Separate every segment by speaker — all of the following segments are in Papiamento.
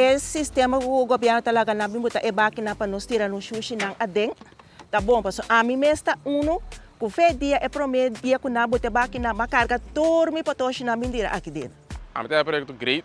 Speaker 1: E sistema ku gobièrnu ta laga nan bin bota e bakinan pa nos tira nos shushinan aden ta bon. Pasobra ami mes ta unu ku fe dia, e promé dia ku nan bota e bakinan, mi a karga tur mi potoshinan bin tira aki den. Ami ta haña proyekto
Speaker 2: great.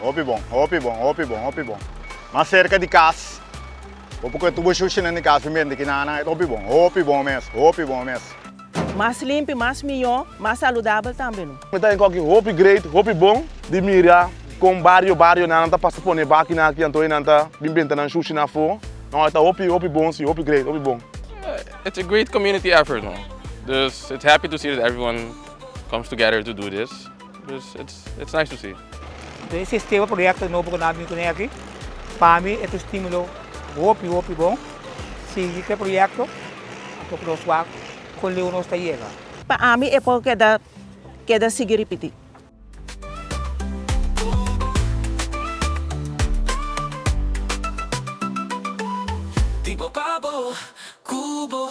Speaker 3: Hopi bon,
Speaker 4: hopi bon, hopi bon, hopi bon. Mas serka di kas, bo por kue tur bo shushinan di kas, tin bende ki nan nan et hopi bon, hopi bon mes, hopi bon mes. Mas
Speaker 1: limpi, mas mihó, mas saludabel tambe no. Mi ta enkoki hopi
Speaker 5: great, hopi bon di mira kon bario bario nan nan ta pasa pone bakinan aki anto e nan ta bin benta nan shushi nan afó. No, e ta hopi, hopi bon si, hopi great, hopi bon. It's a great
Speaker 2: community effort no, dus it's happy to see that everyone comes together to do this. Dus it's it's nice to see. Entonces e sistema
Speaker 6: proyecto nobo cu nan a bini cun'e aki, pa mi e ta un stimulo hopi hopi bon. Sigui cu e proyecto anto cu nos wak con leu nos ta yega. Pa ami e por
Speaker 1: keda keda sigui ripiti.
Speaker 7: Di bo pa bo, cu bo.